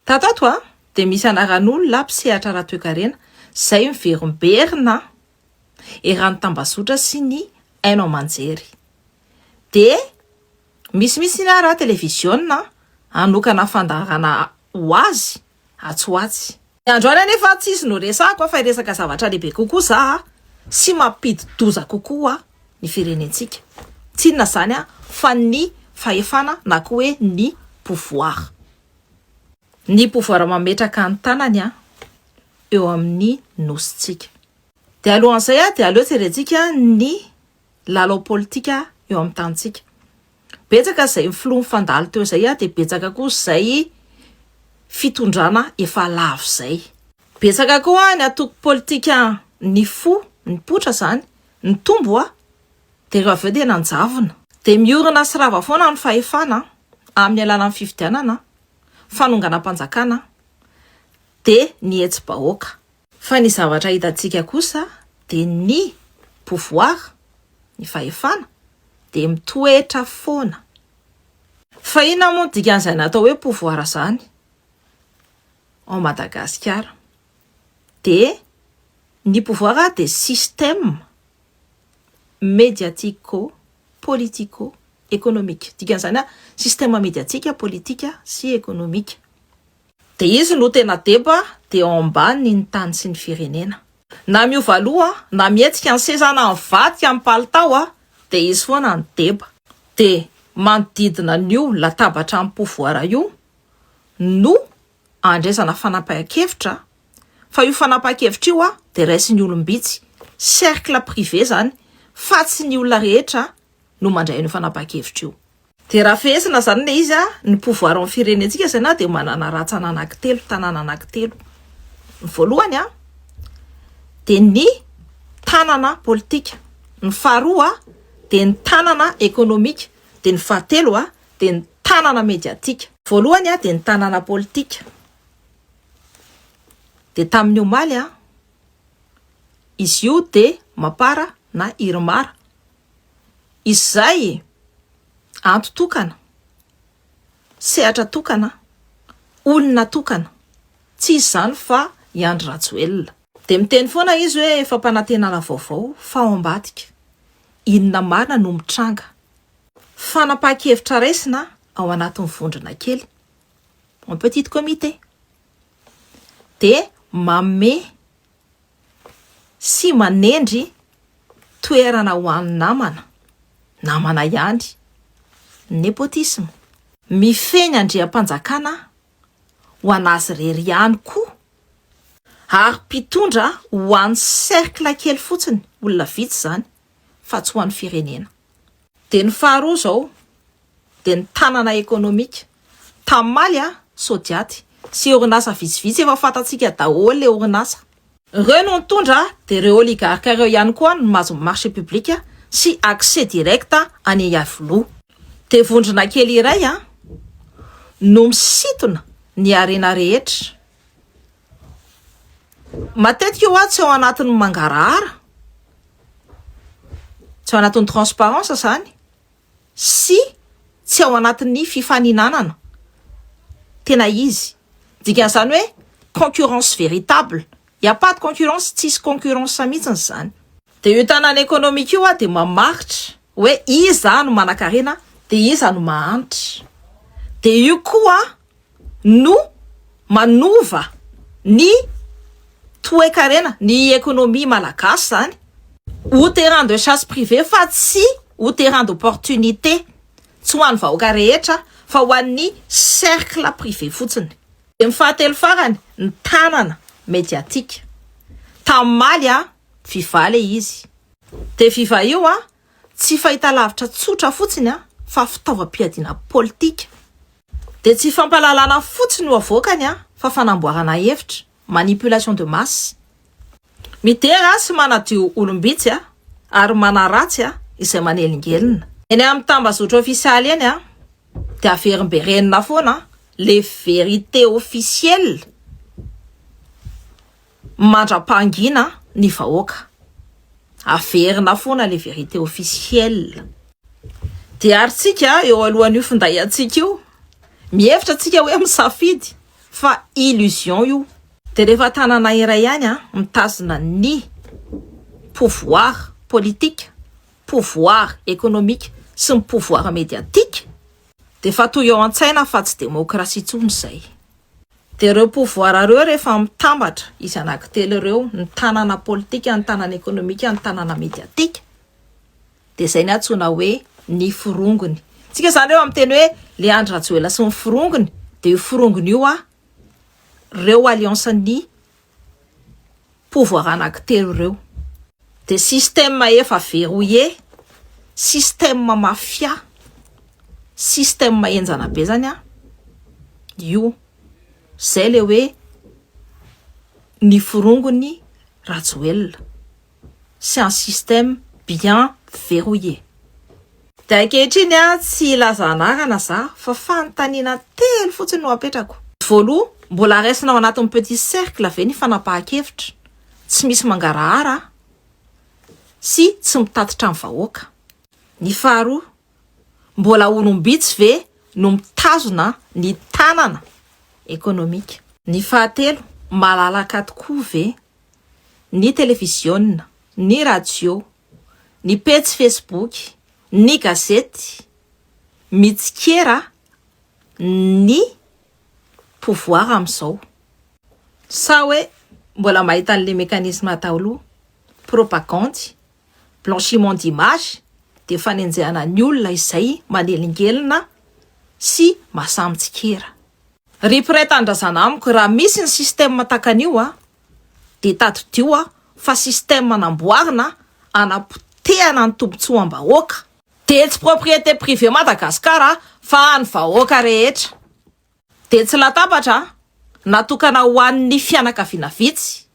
Tatato a dia misy anaran'olona mpisehatra ara-toekarena izay miverimberina eran'ny tambazotra sy ny haino aman-jery. Dia misy mihitsy ny ara televiziona hanokana fandaharana ho azy atsy ho atsy. Androany anefa tsy izy no resahako a fa hiresaka zavatra lehibe kokoa za a, sy mampidi-doza kokoa ny firenentsika. Tsy inona izany a fa ny fahefana na koa hoe ny pouvoir. Ny pouvoir mametraka ny tanany an eo amin'ny nosintsika. Dia alohan'izay an dia aleo jerentsika ny lalao politika eo amin'ny tanintsika. Betsaka izay ny filoha nifandalo teo izay an dia betsaka koa izay fitondrana efa lavo izay. Betsaka koa ny antoko politika nifoha, nipoitra izany, nitombo an. Dia ireo avy eo dia nanjavona. Dia miorina sy rava foana ny fahefana amin'ny alalan'ny fifidianana, fanonganam-panjakana, dia ny hetsi-bahoaka. Fa ny zavatra hitantsika kosa dia ny pouvoir, ny fahefana, dia mitoetra foana. Fa inona moa no dikan'izany atao hoe pouvoir izany ao Madagasikara? Dia ny pouvoir dia système. mediatico politico ekonomika. Dikan'izany hoe système mediatika, politika sy ekonomika. Dia izy no tena deba de ao ambaniny ny tany sy ny firenena. Na miova loha, na mihetsika ny seza, na mivadika ny palitao dia izy foana no deba. Dia manodidina an'io latabatra amim-povoara io no andraisana fanapahan-kevitra fa io fanapahan-kevitra io dia raisin'ny olom-bitsy, cercle privé izany fa tsy ny olona rehetra no mandray an'io fanapahan-kevitra io. Dia raha fehezina izany ilay izy, ny pouvoir ao amin'ny firenentsika izay na dia manana rantsana anankitelo, tanàna anankitelo. Ny voalohany dia ny tanana politika, ny faharoa dia ny tanana ekonomika, dia ny fahatelo dia ny tanana mediatika. Voalohany dia ny tanana politika. Dia tamin'ny omaly, izy io dia Mapar na Irmar. Izay anto tokana, sehatra tokana, olona tokana. Tsy izy izany fa i Andry Rajoelina. Dia miteny foana izy hoe fampanantenana vaovao fa ao ambadika. Inona marina no mitranga Fanapahan-kevitra raisina ao anatin'ny vondrona kely, en petit comité, dia manome sy manendry toerana ho an'ny namana, namana ihany, ny nepotisme. Mifehy ny andriampanjakana ho an'azy irery ihany koa ary mpitondra ho an'ny cercle kely fotsiny, olona vitsy izany, fa tsy ho an'ny firenena. Dia ny faharoa izao dia ny tanana ekonomika. Tammaly a, Sodiaty sy orinasa vitsivitsy efa fantatsika daholo le orinasa. Ireo no nitondra dia ireo oligarques ireo ihany koa no mahazo ny marché public sy accès direct any Iavoloha. Dia vondrona kely iray a, no misintona ny harena rehetra Matetika hoa tsy ao anatin'ny mangarahara, tsy ao anatin'ny transparence zany sy tsy ao anatin'ny fifaninanana tena izy. Dikan'izany hoe concurrence véritable. Il n'y a pas de concurrence, tsisy concurrence mihitsiny izany. Dia io tanana économique io hoa dia mamaritra hoe iza no manakarena dia iza no mahantra. Dia io koa no manova ny toekarena, ny ekonomia malagasy izany, ho terrain de chasse privé fa tsy ho terrain d'opportunité, tsy ho an'ny vahoaka rehetra fa ho an'ny cercle privé fotsiny. Dia ny fahatelo farany, ny tanana mediatique. Tamimaly a, viva le izy. Dia viva io a. tsy fahitalavitra tsotra fotsiny fa fitaovam-piadiana politika. Dia tsy fampahalalana fotsiny no avoakany fa fanamboarana hevitra, manipulation de masse. Midera sy manadio olom-bitsy ary manaratsy izay manelingelina. Eny amin'ny tambazotra ofisialy eny dia averimberenina foana le vérité officielle. Mandra-pahangina ny vahoaka. Averina foana le vérité officielle. Dia ary tsika eo alohan'io finday antsika io, mihevitra tsika hoe misafidy fa illusion io. Dia rehefa tanana iray ihany an, mitazona ny pouvoir politique, pouvoir économique sy ny pouvoir médiatique dia efa toy eo an-tsaina fa tsy démocratie intsony izay. Dia ireo pouvoir ireo rehefa mitambatra, izy anankitelo ireo, ny tanana politika, ny tanana ekonomika, ny tanana mediatika, dia izay ny antsoina hoe ny forongony. Tsika izany ireo amin'ny teny hoe le Andry Rajoela sy ny forongony, dia io forongony io a, ireo alliance ny pouvoir anakitelo ireo dia système efa verrouillé, système mafia, système henjana be zany an, io zay le hoe ny forongony Rajoelina. c'est un système bien verrouillé. Dia ankehitriny an, tsy hilaza anarana za fa fanontaniana telo fotsiny no apetrako. Voaloha, mbola raisina ao anatin'ny petit cercle ve ny fanapahan-kevitra tsy misy mangarahara sy tsy mitatitra ny vahoaka? Ny faharoa, mbola olom-bitsy ve no mitazona ny tanana ekonomika? Ny fahatelo, malalaka tokoa ve ny televiziona, ny radio, ny pejy fesiboky, ny gazety mitsikera ny pouvoir amin'izao. Sa hoe mbola mahita an'ilay mécanisme daholo, propagandy, blanchiment d'image, dia fanenjehana ny olona izay manelingelina sy masahy mitsikera. Ry mpiray tanindrazana amiko, raha misy ny système takan'io a, dia tadidio a, fa système namboarina hanapotehana ny tombotsoam-bahoaka. Dia tsy propriété privée Madagascar a, fa an'ny vahoaka rehetra. Dia tsy latabatra a, natokana ho an'ny fianakaviana vitsy,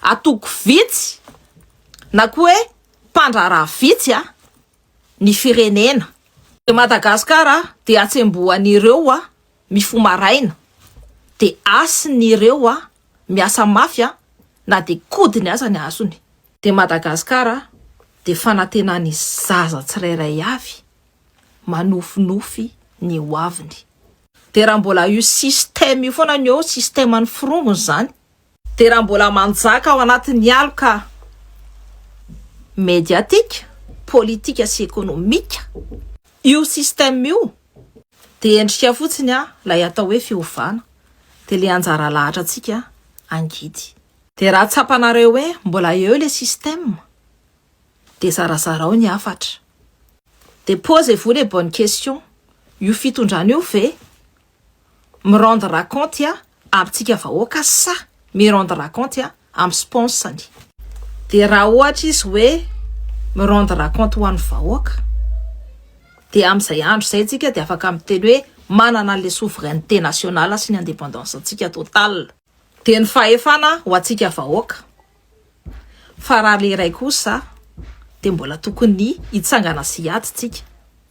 antoko vitsy, na koa hoe mpandraharaha vitsy a, ny firenena. Dia Madagascar a, dia atsembohan'ireo a, mifoha maraina dia hasiny ireo a miasa mafy a na dia kodiny aza ny hasony. Dia Madagascar a dia fanatenany zaza tsirairay avy manofinofy ny ho aviny. Dia raha mbola io système io foana ny eo système ny forongony izany Dia raha mbola manjaka ao anatin'ny aloka mediatika, politika sy ekonomika io système io, dia endrika fotsiny ilay atao hoe fiovana, dia ilay anjara lahatrantsika angidy. Dia raha tsapanareo hoe mbola eo ilay système, dia zarazarao ny hafatra. Dia posez-vous les bonnes questions, io fitondrana io ve? mirendre ra compte a amintsika vahoaka sa mirendre ra compte a am sponsany? De raha ohatra izy hoe mirendre ra compte ho an'ny vahoaka de amzay andro zay tsika de afaka miteny hoe manana anle souveraineté nationale sy ny independance antsika total de ny fahefana ho antsika vahoaka fa raha le iray kosa de mbola tokony hitsangana sy hiady tsika